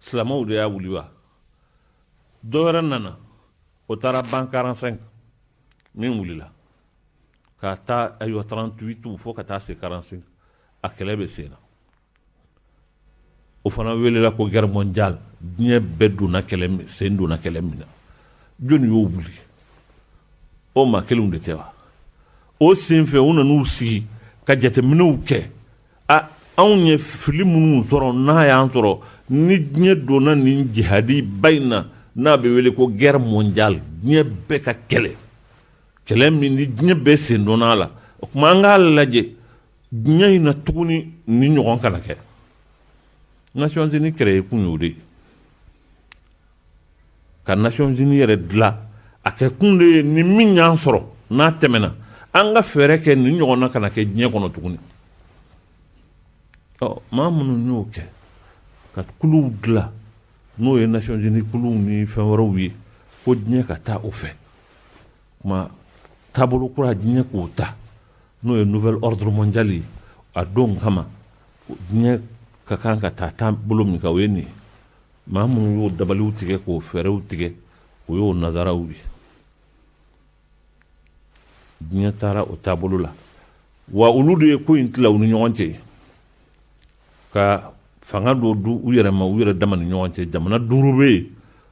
Silamɛw de y'a wuli wa? Dɔ wɛrɛ nana, o taara ban 45 min wulila k'a ta ayiwa 38 fo ka taa se 45 a kɛlɛ bɛ sen na. O fana welela ko guerre mondiale diɲɛ bɛɛ sen donna kɛlɛ min na jɔni y'o wuli? O maa kelenw de tɛ wa? O senfɛ u nan'u sigi ka jateminɛw kɛ A anw ye fili minnu sɔrɔ n'a y'an sɔrɔ ni diɲɛ donna nin jihadi ba in na n'a bɛ wele ko guerre mondiale diɲɛ bɛɛ ka kɛlɛ kɛlɛ min ni diɲɛ bɛ sen donna a la o tuma an k'a lajɛ diɲɛ in na tuguni nin ɲɔgɔn kana kɛ Nations Unies créer kun y'o de ye Ka Nations Unies yɛrɛ dila, a kɛ kun de ye nin min y'an sɔrɔ, n'a tɛmɛna, an ka fɛɛrɛ kɛ nin ɲɔgɔnna kana kɛ diɲɛ kɔnɔ tuguni. Ɔ, maa minnu y'o kɛ, ka kuluw dila, n'o ye Nations Unies kuluw ni fɛn wɛrɛw ye, ko diɲɛ ka taa o fɛ, tuma taabolo kura diɲɛ k'o ta, n'o ye nouvel ordre mondial ye, a don kama, diɲɛ ka kan ka taa taabolo min kan, o ye nin ye. Maa minnu y'o dabaliw tigɛ k'o fɛɛrɛw tigɛ o y'o nazaraw ye diɲɛ taara o taabolo la wa olu de ye ko in tila u ni ɲɔgɔn cɛ ka fanga dɔ di u yɛrɛ ma u yɛrɛ dama ni ɲɔgɔn cɛ jamana duuru bɛ yen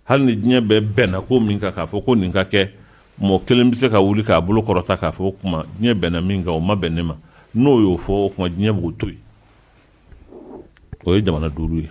hali ni diɲɛ bɛɛ bɛnna ko min kan k'a fɔ ko nin ka kɛ mɔgɔ kelen bɛ se ka wuli k'a bolo kɔrɔta k'a fɔ o kuma diɲɛ bɛnna min kan o ma bɛn ne ma n'o y'o fɔ o kuma diɲɛ b'o to yen o ye jamana duuru ye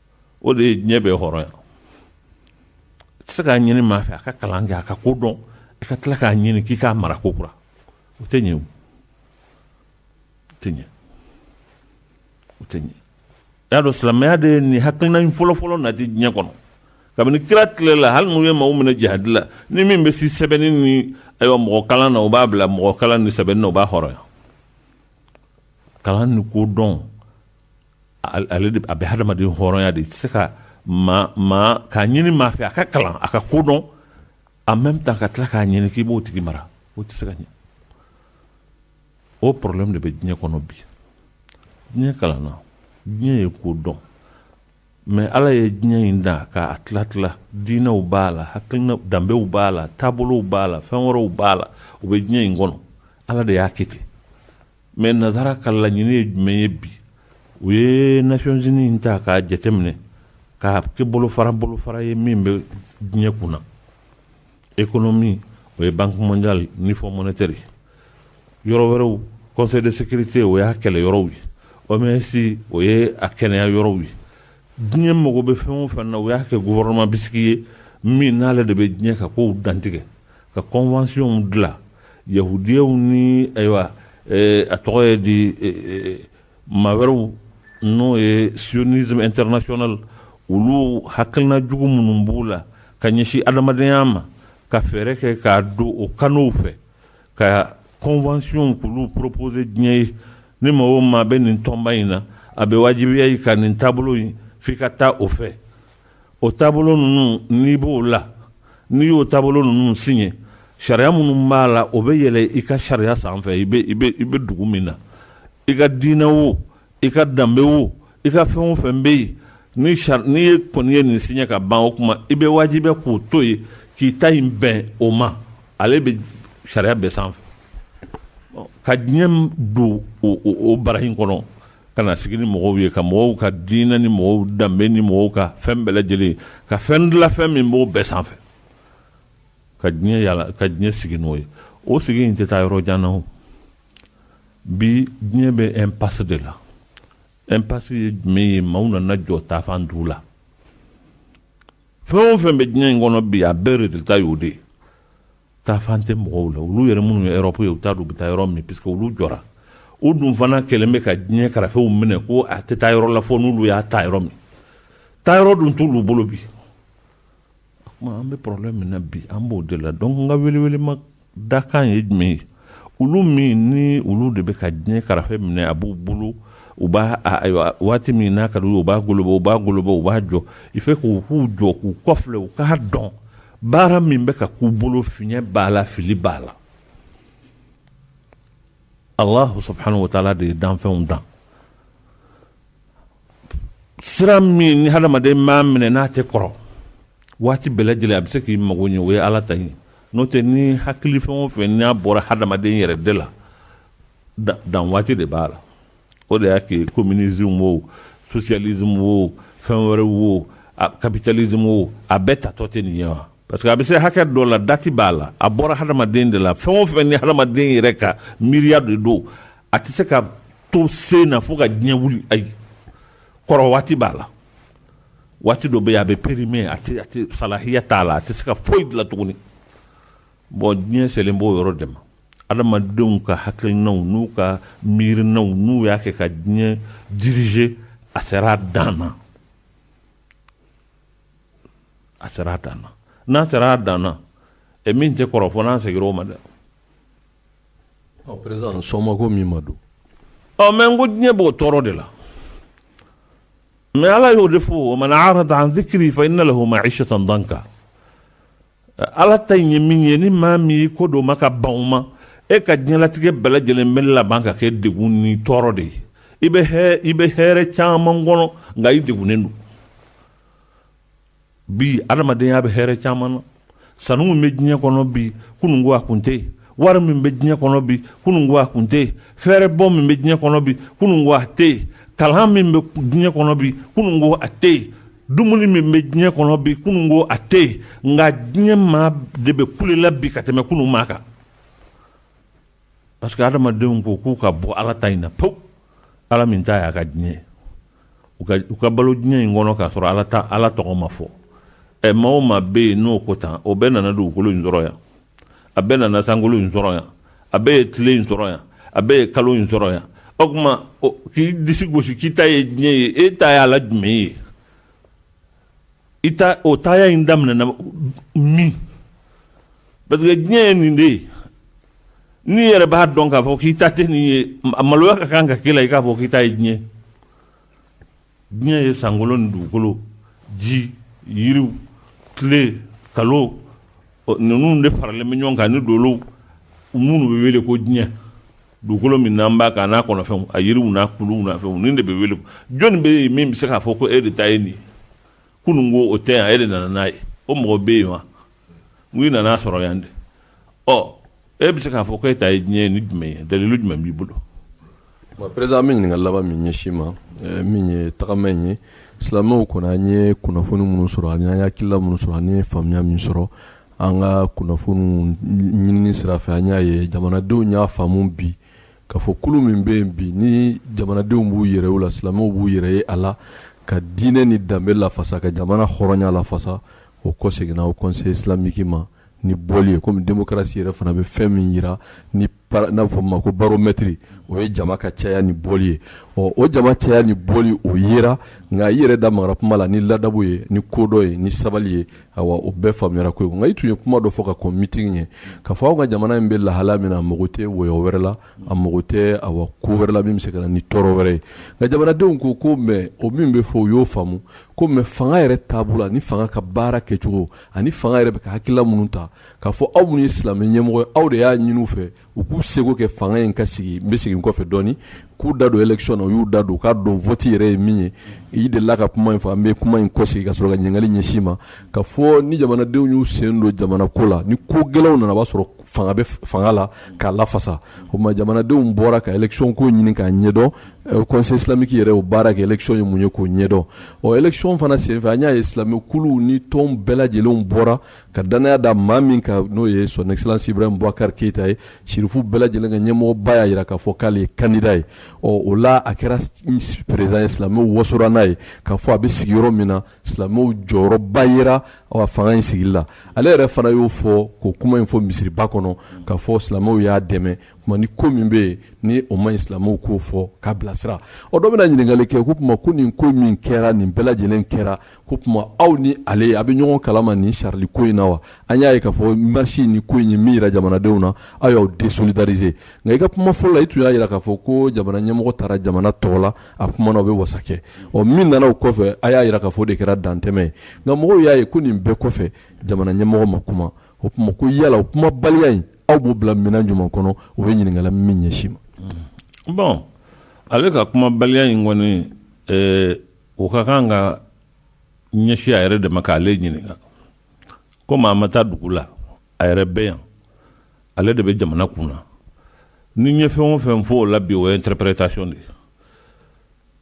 o de ye diɲɛ bɛɛ hɔrɔnya i tɛ se k'a ɲini maa fɛ a ka kalan kɛ a ka ko dɔn i ka tila k'a ɲini k'i k'a mara ko kura o tɛ ɲɛ o tɛ ɲɛ o tɛ ɲɛ y'a dɔn silamɛya de ye nin hakilina in fɔlɔfɔlɔ nati diɲɛ kɔnɔ kabini kira tile la hali n'u ye maaw minɛ jihadi la ni min bɛ se sɛbɛnni ni ayiwa mɔgɔ kalan na u b'a bila mɔgɔ kalan ni sɛbɛnni na u b'a hɔrɔnya kalan ni ko dɔn ale a bɛ hadamaden hɔrɔnya de tɛ se ka k'a ɲini maa fɛ a ka kalan a ka ko dɔn a mɛ bɛ taa ka tila k'a ɲini k'i b'o tigi mara o tɛ se ka ɲɛ o problème de bɛ diɲɛ kɔnɔ bi diɲɛ kalanna diɲɛ ye ko dɔn mɛ ala ye diɲɛ in da k'a tila tila diinɛw b'a la hakili danbew b'a la taabolow b'a la fɛn wɛrɛw b'a la u bɛ diɲɛ in kɔnɔ ala de y'a kɛ ten Mais nasara ka laɲini ye jumɛn ye bi u ye Nations Unies ta k'a jateminɛ k'a kɛ bolofara bolofara ye min bɛ diɲɛ kun na économie o ye Banque mondiale ni Fonds monétaire yɔrɔ wɛrɛw Conseil de sécurité o y'a kɛlɛ yɔrɔw ye OMS o ye a kɛnɛya yɔrɔw ye diɲɛ mago bɛ fɛn o fɛn na u y'a kɛ gouvernement bisigi ye min n'ale de bɛ diɲɛ ka ko dantigɛ ka conventionw dila yahudiyaw ni ayiwa a tɔgɔ ye di maa wɛrɛw n'o ye sionisme international olu hakilina jugu minnu b'u la ka ɲɛsin adamadenya ma ka fɛɛrɛ kɛ k'a don o canaux fɛ ka conventionw kulu proposer diɲɛ ye ni maa o maa bɛ nin tɔnba in na a bɛ wajibiya i kan nin taabolo in f'i ka taa o fɛ O taabolo ninnu n'i b'o la n'i y'o taabolo ninnu siɲɛ sariya minnu b'a la o bɛ yɛlɛ i ka sariya sanfɛ i bɛ dugu min na i ka diinɛ wo i ka danbe wo i ka fɛn o fɛn bɛ yen n'i ye kɔni ye nin siɲɛ ka ban o kuma i bɛ wajibiya k'o to yen k'i ta in bɛn o ma ale bɛ sariya bɛɛ sanfɛ ka diɲɛ don o bara in kɔnɔ Ka na sigi ni mɔgɔw ye, ka mɔgɔw ka diinɛ ni mɔgɔw danbe ni mɔgɔw ka fɛn bɛɛ lajɛlen, ka fɛn dilan fɛn min b'o bɛɛ sanfɛ, ka diɲɛ yaala, ka diɲɛ sigi n'o ye. O sigi in tɛ taa yɔrɔ jan na o. Bi diɲɛ bɛ impasse de la. Impasse ye jumɛn ye? Maaw nana jɔ taafan t'u la. Fɛn o fɛn bɛ diɲɛ in kɔnɔ bi, a bɛɛ résultat y'o de ye. taafan tɛ mɔgɔw la olu yɛrɛ minnu ye Europe ye u t'a dɔn u bɛ taa yɔrɔ min parce que olu jɔra u dun fana kɛlen bɛ ka diɲɛ karafew minɛ ko a tɛ taa yɔrɔ la fo n'olu y'a taa yɔrɔ min taa yɔrɔ dun t'olu bolo bi kuma an bɛ problème min na bi an b'o de la donc n ka welewelema dakan ye jumɛn ye olu min ni olu de bɛ ka diɲɛ karafe minɛ a b'u bolo u b'a ayiwa waati min n'a ka di u b'a goloba u b'a goloba u b'a jɔ i fɛ k'u k'u jɔ k'u kɔfilɛ u k'a dɔn baara min bɛ ka k'u bolo fiɲɛ b'a la fili b'a la alahu subuhana wa taala de ye danfɛnw dan sira min ni hadamaden m'a minɛ n'a tɛ kɔrɔ waati bɛɛ lajɛlen a bɛ se k'i mago ɲɛ o ye ala ta ye n'o tɛ ni hakili fɛn o fɛn n'a bɔra hadamaden yɛrɛ de la dan waati de b'a la o de y'a kɛ communisme wo socialisme wo fɛn wɛrɛ wo capitalisme wo a bɛɛ taatɔ tɛ nin ye wa parce que a bɛ se hakɛ dɔ la dati b'a la a bɔra hadamaden de la fɛn o fɛn ni hadamaden yɛrɛ ka miiriya de don a tɛ se ka to sen na fo ka diɲɛ wuli ayi kɔrɔ waati b'a la waati dɔ bɛ yen a bɛ perime a tɛ a tɛ salahiya t'a la a tɛ se ka foyi dilan tuguni bɔn diɲɛ selen b'o yɔrɔ de ma adamadenw ka hakilinaw n'u ka miirinaw n'u y'a kɛ ka diɲɛ dirize a sera a dan na a sera a dan na n'a sera a dan na ɛ min tɛ kɔrɔ fo n'a seginna o ma dɛ mɛ n ko diɲɛ b'o tɔɔrɔ de la mɛ ala y'o de fɔ wa man arada an zikiri fa inna lahu mayisatan dankan ala ta ye min ye ni maa min y'i kɔdon o ma ka ban o ma e ka diɲɛlatigɛ bɛɛ lajɛlen bɛ laban ka kɛ degun ni tɔɔrɔ de ye i bɛ i bɛ hɛrɛ caman kɔnɔ nka i degunnen don Bi adamadenya bɛ hɛrɛ caman na. Sanu min bɛ diɲɛ kɔnɔ bi, kunun ko a tun tɛ yen. Wari min bɛ diɲɛ kɔnɔ bi, kunun ko a tun tɛ yen. Fɛɛrɛbɔ min bɛ diɲɛ kɔnɔ bi, kunun ko a tɛ yen. Kalan min bɛ diɲɛ kɔnɔ bi, kunun ko a tɛ yen. Dumuni min bɛ diɲɛ kɔnɔ bi, kunun ko a tɛ yen. Nka diɲɛ maa de bɛ kule la bi ka tɛmɛ kunun maa kan. Parce que hadamadenw ko k'u ka bɔ ala ta in na pewu ala min ta y'a ka diɲɛ u ka balo diɲɛ in kɔnɔ k'a sɔrɔ ala taa ala tɔgɔ ma fɔ ɛ maa o maa bɛ yen n'o ko tan o bɛɛ nana dugukolo in sɔrɔ yan a bɛɛ nana sankolo in sɔrɔ yan a bɛɛ ye tile in sɔrɔ yan a bɛɛ ye kalo in sɔrɔ yan o tuma k'i disi gosi k'i ta ye diɲɛ ye e ta y'a la jumɛn ye i ta o taya in daminɛna min parce que diɲɛ ye nin de ye n'i yɛrɛ b'a dɔn k'a fɔ k'i ta tɛ nin ye a maloya ka kan ka kɛ i la i k'a fɔ k'i ta ye diɲɛ diɲɛ ye sankolo ni dugukolo ji yiriw tile kalo ninnu de faralen bɛ ɲɔgɔn kan ni dolow minnu bɛ wele ko diɲɛ Dugukolo min n'an b'a kan a n'a kɔnɔfɛnw a yiriw n'a kuluw n'a fɛnw nin de bɛ wele jɔni bɛ yen min bɛ se k'a fɔ ko e de ta ye nin ye kunun ko o tɛ yan e de nana n'a ye o mɔgɔ bɛ yen wa n ko i nana a sɔrɔ yan de ɔ e bɛ se k'a fɔ ko e ta ye diɲɛ ye ni jumɛn ye dalilu jumɛn b'i bolo perezidan an bɛ ɲininkali laban min ɲɛsin i ma eh, min ye tagama in ye silamɛw kɔnɔ an ye kunnafoni minnu sɔrɔ ani an ye hakilina minnu sɔrɔ ani an ye faamuya min sɔrɔ an ka kunnafoniw ɲinini sira fɛ an y'a ye jamanadenw y'a faamu bi k'a fɔ kulu min bɛ yen bi ni jamanadenw b'u yɛrɛ u la silamɛw b'u yɛrɛ ye a la ka diinɛ ni danbe lafasa ka jamana hɔrɔnya lafasa o kɔseginna haut conseil islamique ma ni boli ye kɔmi demokarasi yɛrɛ fana bɛ fɛn min jira ni n'a fɔ ma ko baromɛtiri o ye jama ka caya ni bɔli ye ɔ o jama caya ni bɔli o yera nka i yɛrɛ da mara kuma la ni ladabu ye ni kodɔn ye ni sabali ye awa o bɛɛ faamuyara ko nka i tun ye kuma dɔ fɔ ka kɔn mitin ɲɛ k'a fɔ aw ka jamana in bɛ lahala min na a mago tɛ wɔyɔ wɛrɛ la a mago tɛ awa ko wɛrɛ la min bɛ se ka na ni tɔɔrɔ wɛrɛ ye nka jamanadenw ko komi o min bɛ fɔ o y'o faamu komi fanga yɛrɛ taabolo ani fanga ka baara kɛcogo ani fanga yɛrɛ bɛ ka hakilila minnu ta k'a fɔ aw minnu ye silamɛ ɲɛmɔgɔ ye aw de y'a ɲini fɛ u k'u seko kɛ fanga in ka sigi n bɛ segin kɔfɛ dɔɔnin k'u da don élection na u y'u da don k'a dɔn vote yɛrɛ ye min ye i delila ka kuma in fɔ an bɛ kuma in kɔsegin ka sɔrɔ ka ɲininkali ɲɛsin i ma k'a fɔ ni jamanadenw y'u sen don jamana ko la ni ko gɛlɛnw nana b'a sɔrɔ fanga bɛ fanga la k'a lafasa o tuma jamanadenw bɔra ka élection ko ɲini k'a ɲɛdɔn eh, conseil islamique yɛrɛ o baara kɛ élection ye mun ye k'o ɲɛdɔn ɔ élection fana senfɛ an y'a ye silamɛ kuluw ni tɔnw bɛɛ lajɛlenw bɔra ka dannaya da maa min kan n'o ye son excellence ibrahim bubakari keyita ye sirifu bɛɛ lajɛlen ka ɲɛmɔgɔba y'a jira k'a fɔ k'ale ye kandida ye ɔ o la a kɛra président ye silamɛw wasora n'a ye k'a fɔ a bɛ sigi yɔrɔ min na silamɛw jɔyɔrɔba jira fanga in sigi la ale yɛrɛ fana y'o fɔ ko kuma in fɔ misiriba kɔnɔ k'a fɔ silamɛw y'a dɛmɛ ni ko min bɛ yen ni o ma silamɛw k'o fɔ k'a bilasira o dɔ bɛna ɲininkali kɛ o tuma ma ko nin ko min kɛra nin bɛɛ lajɛlen kɛra k'o tuma aw ni ale a bɛ ɲɔgɔn kalama nin charlie ko in na wa an y'a ye k'a fɔ marisi ni ko in ye min jira jamanadenw na aw y'aw désolidariser nka i ka kuma fɔlɔ la i tun y'a jira k'a fɔ ko jamana ɲɛmɔgɔ taara jamana tɔgɔ la a kumana o bɛ wasa kɛ ɔ min nana o kɔfɛ a y'a jira k'a fɔ o de kɛra dantɛmɛ ye nka mɔgɔw y'a ye ko nin bɛɛ kɔfɛ jamana ɲɛmɔgɔ ma kuma o tuma ko yala o kumabaliya in aw b'o bila minɛn jumɛn kɔnɔ o bɛ ɲininkali min ɲɛsin i ma bon ale ka kumabaliya in kɔni o ka kan ka ɲɛsin a yɛrɛ de ma k'ale ɲininka komi a ma taa dugu la a yɛrɛ bɛ yan ale de bɛ jamana kun na ni n ye fɛn o fɛn fɔ o la bi o ye interprétation de ye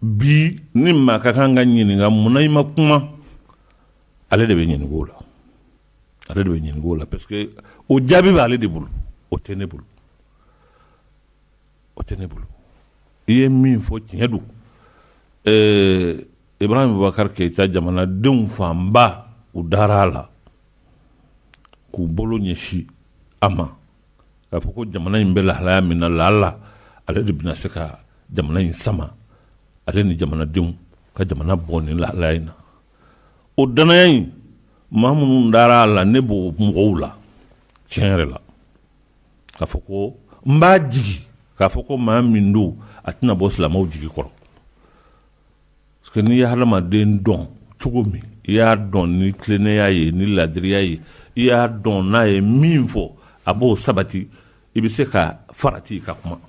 bi ni maa ka kan ka ɲininka mun na i ma kuma ale de bɛ ɲininka o la ale de bɛ ɲininka o la parce que o jaabi b'ale de bolo o tɛ ne bolo o tɛ ne bolo i ye min fɔ tiɲɛ don ɛɛ ibrahim bubakari keyita jamanadenw fanba u dara a la k'u bolo ɲɛsin a ma k'a fɔ ko jamana in bɛ lahalaya min na lala ale de bɛna se ka jamana in sama ale ni jamanadenw ka jamana bɔ nin lahalaya in na o dannaya in maa minnu dara a la ne b'o mɔgɔw la tiɲɛ yɛrɛ la k'a fɔ ko n b'a jigi k'a fɔ ko maa min don a tɛna bɔ silamɛw jigi kɔrɔ parce que n'i ye hadamaden dɔn cogo min i y'a dɔn ni tilennenya ye ni laadiriya ye i y'a dɔn n'a ye min fɔ a b'o sabati i bɛ se ka farati ka kuma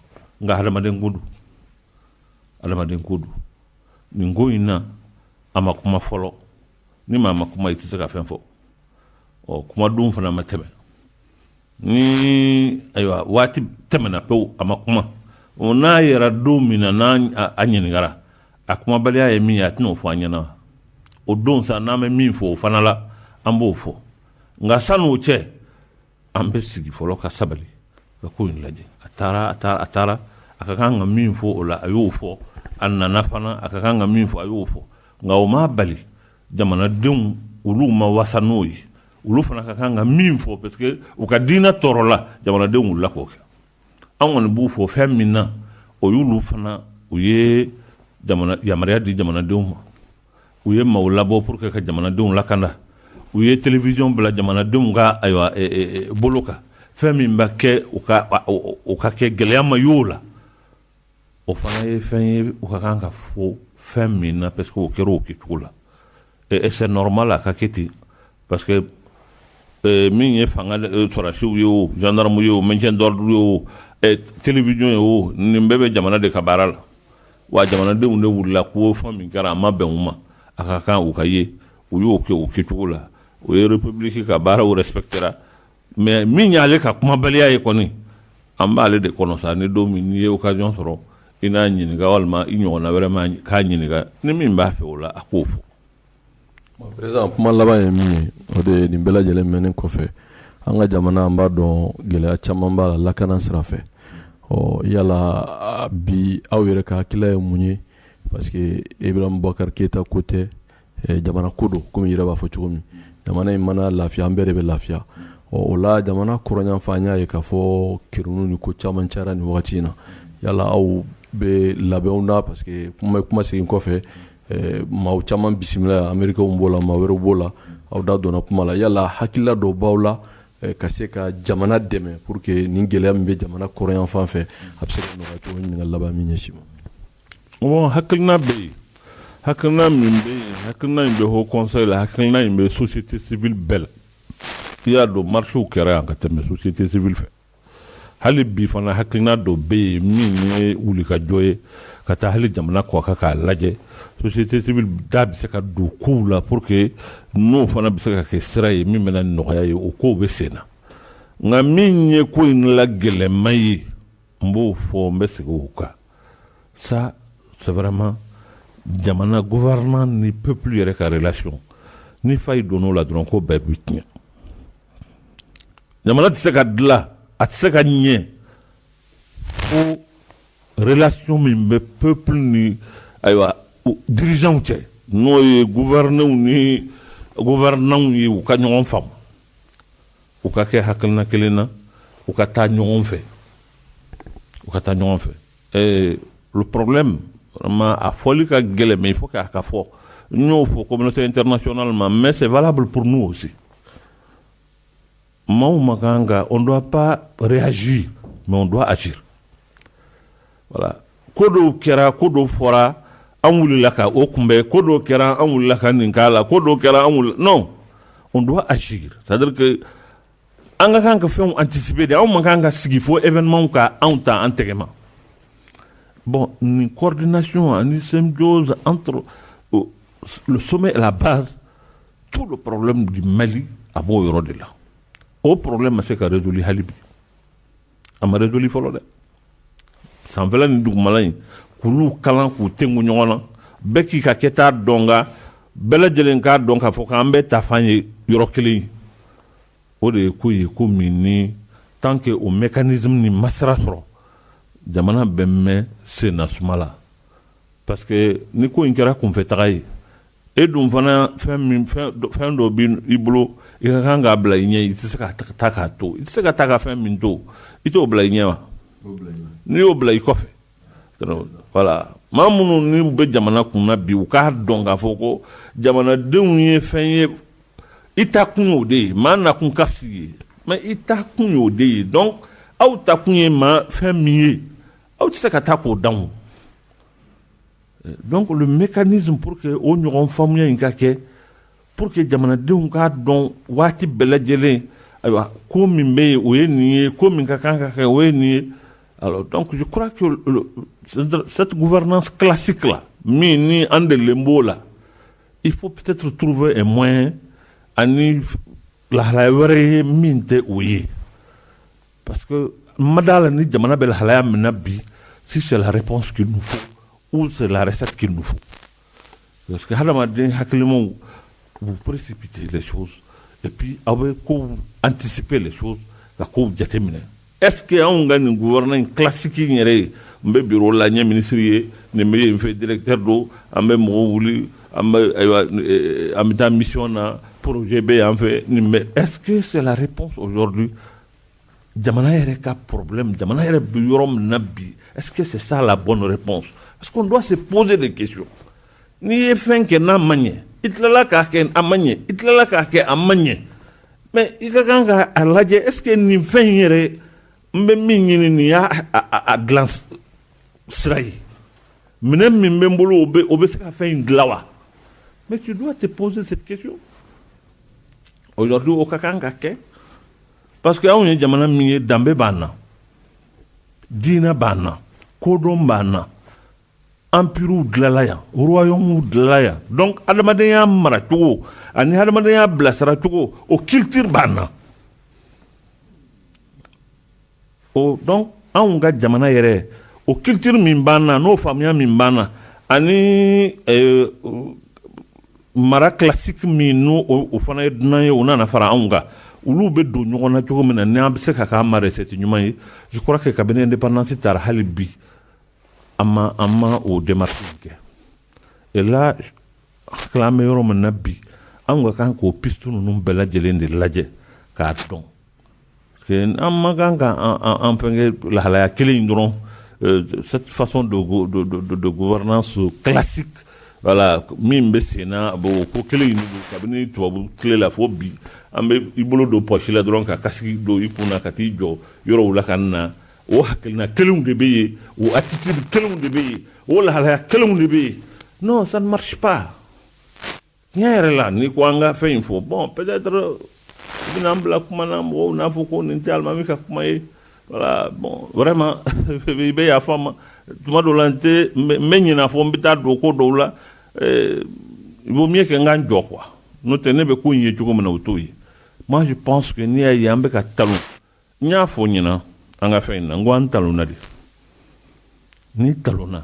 nka hadamaden ko don hadamaden ko don nin ko in na a ma kuma fɔlɔ ni maa ma kuma i tɛ se ka fɛn fɔ ɔ kumadon fana ma tɛmɛ ni ayiwa waati tɛmɛna pewu a ma kuma o n'a yera don min na n'a ɲininkara a kumabaliya ye min ye a tɛna o fɔ an ɲɛna wa o don sa n'an bɛ min fɔ o fana la an b'o fɔ nka san'o cɛ an bɛ sigi fɔlɔ ka sabali ka ko in lajɛ a taara a taara a taara a ka kan ka min fɔ o la a y'o fɔ a nana fana a ka kan ka min fɔ a y'o fɔ nka o ma bali jamanadenw olu ma wasa n'o ye olu fana ka kan ka min fɔ parce que u ka diinɛ tɔɔrɔla jamanadenw wulila k'o kɛ an kɔni b'u fo fɛn min na o y'olu fana u ye yamaruya di jamanadenw ma u ye maaw labɔ pour que ka jamanadenw lakanda u ye télévision bila jamanadenw ka ayiwa e, e, e, bolo kan fɛn min bɛ kɛ u ka u k'a kɛ gɛlɛya ma y'o la o fana ye fɛn ye u ka kan ka fo fɛn min na parce que o kɛra o kɛcogo la et c'est normal a ka kɛ ten parce que euh, min ye fanga euh, sɔrɔdasiw ye o gendarme ye o maintien d'ordre ye o télévision ye o nin bɛɛ bɛ jamana de ka baara la Wa jamanadenw de wulila k'o fɔ min kɛra a ma bɛn u ma a ka kan u ka ye u y'o kɛ o kɛcogo la u ye république ka baaraw respecter mais min y'ale ka kumabaliya ye kɔni an b'ale de kɔnɔ sa ni don min n'i ye occasion sɔrɔ i n'a ɲininka walima i ɲɔgɔn wɛrɛ ma k'a ɲininka ni min b'a fɛ o la a k'o fɔ Prési kuma laban ye min ye o de ye nin bɛɛ lajɛlenmani kɔfɛ an ka jamana an b'a dɔn gɛlɛya caman b'a la lakana sira fɛ yala bi aw yɛrɛ ka hakilila ye mun ye parce que Ibrahim Bubakari Keyita ta ko tɛ jamana ko don kɔmi i yɛrɛ b'a fɔ cogo min jamana in mana lafiya an bɛɛ de bɛ lafiya ɔ o la jamana kɔrɔnyanfan an y'a ye k'a fɔ ki ni ko caman ca ni waati wagati in na yala aw bɛ labɛnw na parce que kuma bɛ kuma segin kɔfɛ Maa caman bisimila Ameriki b'o la maa wɛrɛ b'o la aw da donna kuma la yala hakilila dɔ b'aw la ka se ka jamana dɛmɛ pour que nin gɛlɛya min bɛ jamana kɔrɔnyanfan fɛ a bɛ se ka laban min ɲɛ ma hakilina bɛ yen hakilina min bɛ yen hakilina in bɛ Haut Conseil la hakilina in bɛ société civile bɛɛ la i y'a dɔn marchew kɛra yan ka tɛmɛ société civile fɛ Hali bi fana hakilina dɔ bɛ yen min ye wulikajɔ ye ka taa hali jamana kɔkan k'a lajɛ société civile da bɛ se ka don kow la pour que n'o fana bɛ se ka kɛ sira ye min bɛna nɔgɔya ye o kow bɛ sen na nka min ye ko in la gɛlɛnma ye n b'o fɔ n bɛ segin o kan ça c'est vraiment jamana gouvernants ni peuple yɛrɛ ka relation ni faille donn'o la dɔrɔn ko bɛɛ bɛ tiɲɛ Ɲa tɛ se ka dilan a tɛ se ka ɲɛ fo relasiw min bɛ pep ni ayiwa dirijaw cɛ n'o ye gufɛrɛrɛnenw ni gufɛrɛnaw ye u ka ɲɔgɔn faamu u ka kɛ haina kelen na u ka taa ɲɔgɔn fɛ u ka taa ɲɔgɔn fɛ ɛɛ porobi ma a fɔli ka gɛlɛn min fɔ k'a ka fɔ n y'o fɔ ko tɛ in tɛ natiɔnna ma mɛ se' bolo pun oo Maaw man kan ka, on ne doit pas réagir, mais on doit agir. Voilà. Ko dɔw kɛra, ko dɔw fɔra, an wulila ka o kunbɛ, ko dɔw kɛra, an wulila ka nin k'a la, ko dɔw kɛra, an wulila. Non, on doit agir. C'est-à-dire que an ka kan ka fɛnw anticiper de, anw man kan ka sigi fo événement ka anw ta an tɛgɛ ma. Bon, nin coordination ani symbiose entre euh, le sommet et la base tout le problème du Mali a b'o yɔrɔ de la o problème ma se ka régler hali bi a ma régler fɔlɔ dɛ sanfɛla ni dugumala in k'olu kala k'u tugu ɲɔgɔn na bɛɛ k'i ka kɛta dɔn k'an bɛɛ lajɛlen k'a dɔn k'a fɔ k'an bɛɛ taafan ye yɔrɔ kelen ye o de ye ko ye ko min ni tant que o mécanisme ma sira sɔrɔ jamana bɛ mɛɛn sen na suma la parce que ni ko in kɛra kunfɛ taga ye E dun fana fɛn dɔ bɛ i bolo i ka kan k'a bila i ɲɛ i tɛ se ka taa k'a to i tɛ se ka taa ka fɛn min to i t'o bila i ɲɛ wa n'i y'o bila i kɔfɛ voilà maa minnu ni bɛ jamana kun na bi u k'a dɔn k'a fɔ ko jamanadenw ye fɛn ye i ta kun o de ye maa na kun ka fisa i ye mais i ta kun o de ye donc aw ta kun ye maa fɛn min ye aw tɛ se ka taa k'o dan Donc le mécanisme pour que o ɲɔgɔn faamuya in ka kɛ pour que jamanadenw k'a dɔn waati bɛɛ lajɛlen ayiwa ko min bɛ yen o ye nin ye ko min ka kan ka kɛ o ye nin ye donc cette gouvernance classique là min ni an delilen b'o la il faut peut-être trouver un moyen ani lahalaya wɛrɛ ye min tɛ o ye Parce que ma d'a la ni jamana bɛ lahalaya min na bi si c'est la réponse qu'il nous faut ou c'est la recette qu'il nous faut parce que hadamaden hakilimaw vous précipitez les choses et puis aw bɛ kow anticiper les choses ka kow jateminɛ est-ce que anw ka nin gouvernement in classique in yɛrɛ ye n bɛ bureau la n ye ministre ye nin bɛ yen fɛ directeur don an bɛ mɔgɔw wuli an bɛ ayiwa eh, an bɛ taa mission na projet bɛ yan fɛ nin bɛ est-ce que c'est la réponse aujourd'hui jamana yɛrɛ ka problème jamana yɛrɛ bɛ yɔrɔ min na bi est-ce que c'est ça la bonne réponse parce qu'on doit se poser des questions n'i ye fɛn kɛ n'a ma ɲɛ i tilala k'a kɛ a ma ɲɛ i tilala k'a kɛ a ma ɲɛ mais i ka kan ka a lajɛ est-ce que nin fɛn in yɛrɛ n bɛ min ɲini nin y'a a dilan sira ye minɛn min bɛ n bolo o bɛ o bɛ se ka fɛn in dilan wa mais tu dois te poser cette question Aujourd'hui o ka kan ka kɛ parce que anw ye jamana min ye danbe b'an na diinɛ b'an na kodɔn b'an na empirew dilanla yan royaumew dilanla yan donc adamadenya maracogo ani adamadenya bilasiracogo o culture b'an na Donc anw ka jamana yɛrɛ o culture min b'an na n'o faamuya min b'an na ani mara classique min n' o fana ye dunan ye o nana fara anw kan olu bɛ don ɲɔgɔn na cogo min na n' an bɛ se ka kɛ an ma recette ɲuman ye je crois que kabini indépendance tara hali bi an ma an ma o dɛmɛ kɛ et là tile bɛ yɔrɔ min na bi an ka kan k'o ptu ninnu bɛɛ lajɛlen de lajɛ k'a dɔn an man kan ka an fɛn lahalaya kelen in dɔrɔn cette façon de gouvernance classique voilà min bɛ sen na bɔ ko kelen in kabini tubabu tile la fo bi an bɛ i bolo don pɔsi la dɔrɔn ka casque don i kun na ka t'i jɔ yɔrɔw la ka na o hakilina kelen de bɛ yen o attitude kelen de bɛ yen o lahalaya kelen de bɛ yen non ça ne marche pas Tiɲɛ yɛrɛ la ni ko an ka fɛn in fɔ bon peut-être bɛna an bila kuma na mɔgɔw n'a fɔ ko nin tɛ alimami ka kuma ye voilà bon vraiment i bɛ yafa n ma tuma dɔ la n bɛ ɲina fo n bɛ taa don ko dɔw la u mi kɛ n ka jɔ quoi n'o tɛ ne bɛ ko in ye cogo min na o t'o ye mais je pense que n'i y'a ye an bɛ ka ta N y'a fɔ ɲinan an ka fɛn in na n ko an talonna de n'i talonna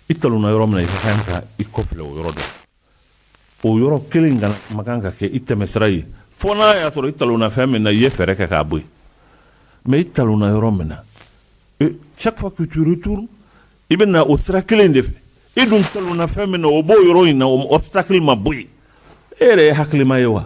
i talonna yɔrɔ min na i ka kan ka i kɔfilɛ o yɔrɔ dɔ o yɔrɔ kelen kana man kan ka kɛ i tɛmɛsira ye fo n'a y'a sɔrɔ i talonna fɛn min na i ye fɛɛrɛ kɛ k'a bɔ yen mais i talonna yɔrɔ min na e, chaque fois que tu retournes i bɛ na o sira kelen de fɛ i dun talonna fɛn min na o b'o yɔrɔ in na o obstacle ma bɔ yen e yɛrɛ ye hakilima ye wa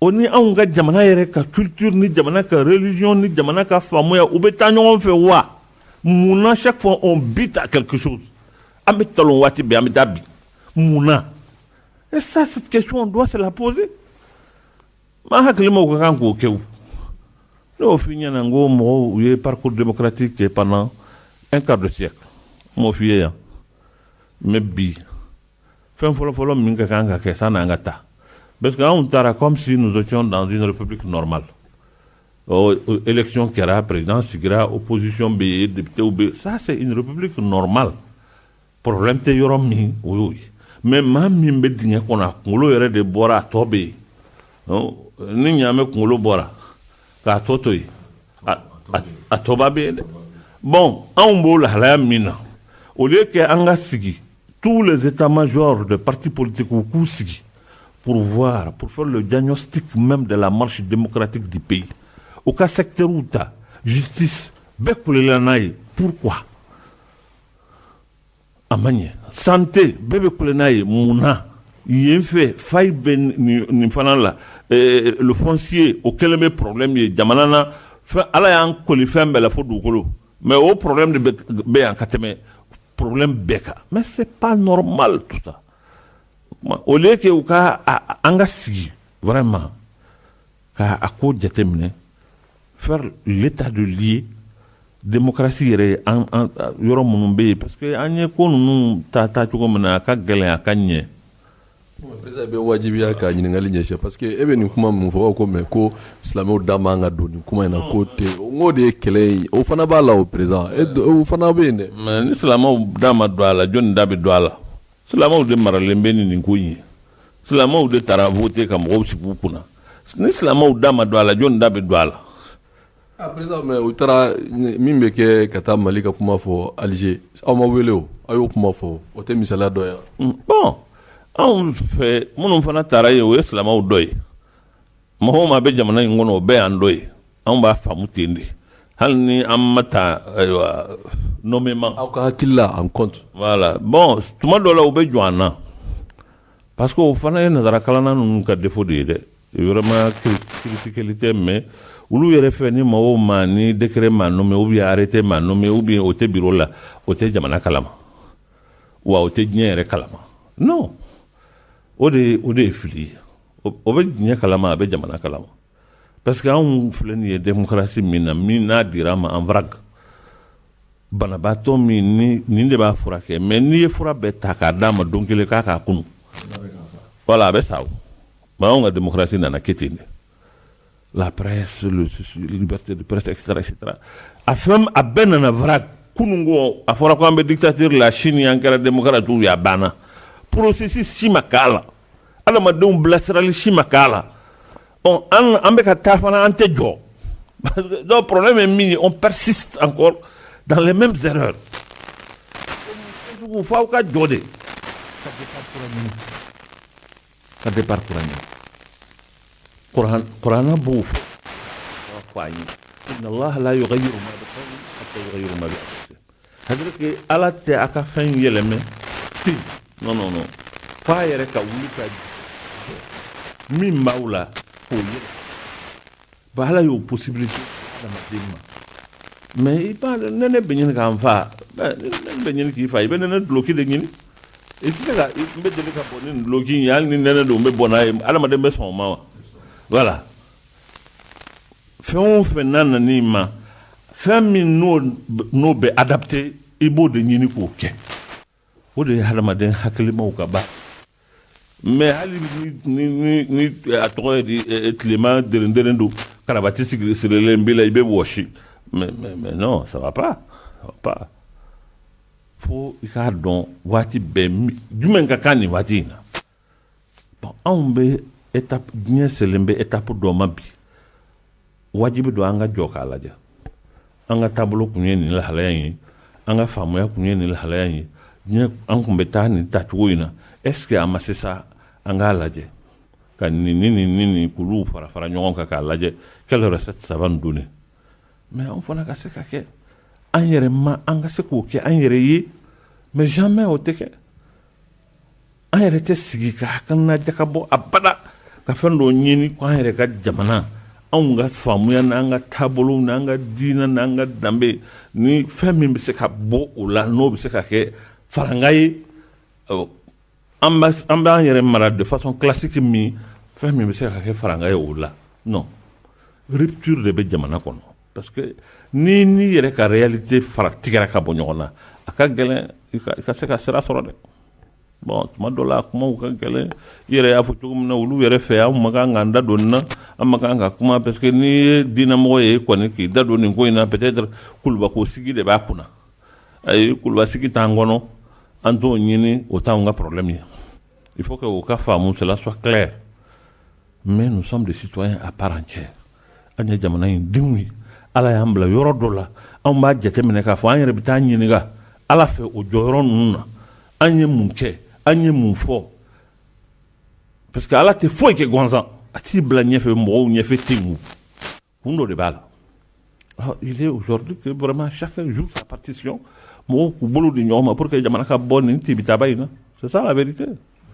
o ni anw ka jamana yɛrɛ ka culture ni jamana ka religion ni jamana ka faamuya u bɛ taa ɲɔgɔn fɛ wa mun na chaque fois on bute à quelque chose an bɛ talon waati bɛɛ an bɛ taa bin mun na et ça cette question on doit se la poser maa hakilimaw ka kan k'o kɛ o ne y'o f'i ɲɛna n ko mɔgɔw u ye parcours démocratique kɛ pendant un quart de siècle n m'o f'i ye yan mais bi Fɛn fɔlɔfɔlɔ min ka kan ka kɛ sani an ka taa parce que anw taara comme si nous étions dans une république normale ɔ élection kɛra président sigira opposition bɛ yen députés bɛ ça c'est une république normale problème tɛ yɔrɔ min o y'o ye mais maa min bɛ dingɛ kɔnɔ a kunkolo yɛrɛ de bɔra a tɔ bɛ yen ni ɲaamɛ kunkolo bɔra k'a tɔ to yen a tɔba bɛ yen dɛ bon anw b'o lahalaya min na au lieu que an ka sigi Tous les états majors de partis politiques u k'u sigi pour voir pour faire le diagnostic même de la marche démocratique du pays u ka secteurw ta justice bɛɛ kulela n'a ye pourquoi a man ɲɛ santé bɛɛ bɛ kule n'a ye mun na yen fɛ faille bɛ nin fana la eh, le foncier o kɛlen bɛ problème ye jamana na fɛn Ala y'an kɔli fɛn bɛɛ la fo dugukolo Mɛ o p bɛ yan ka tɛmɛ p bɛɛ kan mɛ se pan n nɔɔrɔ mali tu o ke u ka an ka sigi wɛrɛ ma k' a ko jate minɛ fɛrɛ le ta don ye denkarasi yɛrɛ ye yɔrɔ minnu bɛ yen parce que an ye ko ninnu ta taa cogo min na a ka gɛlɛn a ka ɲɛ Président i bɛ wajibiya ka ɲininkali ɲɛsin parce que e bɛ nin kuma minnu fɔ ko mais ko silamɛw da man kan ka don nin kuma in na k'o tɛ yen, n k'o de ye kɛlɛ in ye, o fana b'a la o président o fana bɛ yen dɛ, mais ni silamɛw da ma don a la jɔni da bɛ don a la? silamɛw de maralen bɛ ni nin ko in ye, silamɛw de taara voter ka mɔgɔw sigi u kunna, ni silamɛw da ma don a la jɔni da bɛ don a la? A président mais u taara min bɛ kɛ ka taa Mali ka kuma fɔ Alger aw ma wele o, aw y'o kuma fɔ o, o tɛ misaliya dɔ ye wa? Bon anw fɛ minnu fana taara yen o ye silamaw dɔ ye, mɔgɔ o mɔgɔ a bɛ jamana in kɔnɔ o bɛɛ y'an dɔ ye, anw b'a faamu ten de, hali ni an ma ta ayiwa nommément aw ka hakili la en compte, voilà, bon tuma dɔw la u bɛ jɔn an na. Parce que o fana ye nansarakalanna ninnu ka défaut de ye dɛ vraiment kisi kelen tɛ mais olu yɛrɛ fɛ ni mɔgɔw ma ni décret m'a nommer u bɛ arrêté m'a nommer u bɛ o tɛ bureau la o tɛ jamana kalama wa o tɛ diɲɛ yɛrɛ kalama n o de o de ye fili ye o bɛ diɲɛ kalama a bɛ jamana kalama Parce que anw filɛ nin ye démocratie min na min n'a dira anw ma en vrac banabaatɔ min ni nin de b'a furakɛ mais n'i ye fura bɛɛ ta k'a d'a ma don kelen k'a k'a kunu voilà a bɛ sa o mais anw ka démocratie nana kɛ ten de la presse la liberté de presse etc etc a fɛn a bɛɛ nana vrac kunun ko a fɔra ko an bɛ dictature la sini an kɛra démocrate ye a banna processus si ma k'a la adamadenw bilasirali si ma k'a la an bɛ ka taa fana an tɛ jɔ dɔw plen bɛ min ye o pasi an kɔ dalen bɛ dugu fɔ aw ka jɔ de ka bɛ kuran b' fɔ ye C'est-à-dire que ala tɛ a ka fɛn yɛlɛma non fo a yɛrɛ ka wuli ka min b'aw la o ye ba ala y'o possibilité di adamaden ma mɛ i b'a dɔn nɛnɛ bɛ ɲini k' n faa bɛ ɲini k'i faa i bɛ nɛnɛ dulɔki de ɲini i bɛ deli ka bɔ ni dulɔki ye hali nɛnɛ don n bɛ bɔnna ye adamaden bɛ sɔn o ma wa wala fɛn o fɛn n'a nana i ma fɛn min n'o bɛ adapté i b'o de ɲini k'o kɛ o de ye hadamaden hakilimaw ka ba mɛ hali ni a tɔgɔ ye di e, e, tilema derenderen don karabati sigi sirilen b'i la i bɛ wɔsi mɛ non ça va pas ça va pas fo i k'a dɔn waati bɛɛ jumɛn ka kan nin waati in na anw bɛ diɲɛ selen bɛ étape dɔ ma bi wajibi don an ka jɔ k'a lajɛ an ka taabolo tun ye nin lahalaya ye an ka faamuya tun ye nin lahalaya ye an tun bɛ taa nin tacogo in na est-ce que an ma se sa an k'a lajɛ ka nin ni ni ni ni kulu fara fara ɲɔgɔn kan k'a lajɛ quel résultat ça va donner an fana ka se ka kɛ an yɛrɛ ma an ka se ka kɛ an yɛrɛ ye mɛ jamais o tɛ kɛ an yɛrɛ tɛ sigi ka hakilina jakabɔ abada ka fɛn dɔ ɲini ko an yɛrɛ ka jamana anw ka faamuya na an ka taabolo na an ka diinɛ na an ka danbe ni fɛn min bɛ se ka bɔ o la n'o bɛ se ka kɛ farankan ye an b'an yɛrɛ mara de façon classique min fɛn min bɛ se ka kɛ farankan ye o la rupture de bɛ jamana kɔnɔ Parce que n'i n'i yɛrɛ ka réalité fara tigɛra ka bɔ ɲɔgɔn na, a ka gɛlɛn i ka se ka sira sɔrɔ dɛ, bon tuma dɔ la kumaw ka gɛlɛn, i yɛrɛ y'a fɔ cogo min na olu yɛrɛ fɛ an man kan k'an da don nin na, an man kan ka kuma parce que n'i ye diinɛmɔgɔ ye kɔni k'i da don nin ko in na peut être kulubako sigi de b'a kunna, ayi kuluba sigi t'an kɔnɔ, an t'o ɲini o t'anw ka problème ye, il faut que o ka faamu cela soit clair, mais nous sommes des citoyens à part entière an ye jamana in denw ye ala y'an bila yɔrɔ dɔ la anw b'a jateminɛ k'a fɔ an yɛrɛ bɛ taa ɲininka ala fɛ o jɔyɔrɔ ninnu na an ye mun kɛ an ye mun fɔ parce que ala tɛ foyi kɛ gansan a t'i bila ɲɛfɛ mɔgɔw ɲɛfɛ ten kun kun dɔ de b'a la ah, il est aujourd'hui que vraiment chacun joue sa partition mɔgɔw k'u bolo di ɲɔgɔn ma pour que jamana ka bɔ nin tibitaba in na c'est ça la vérité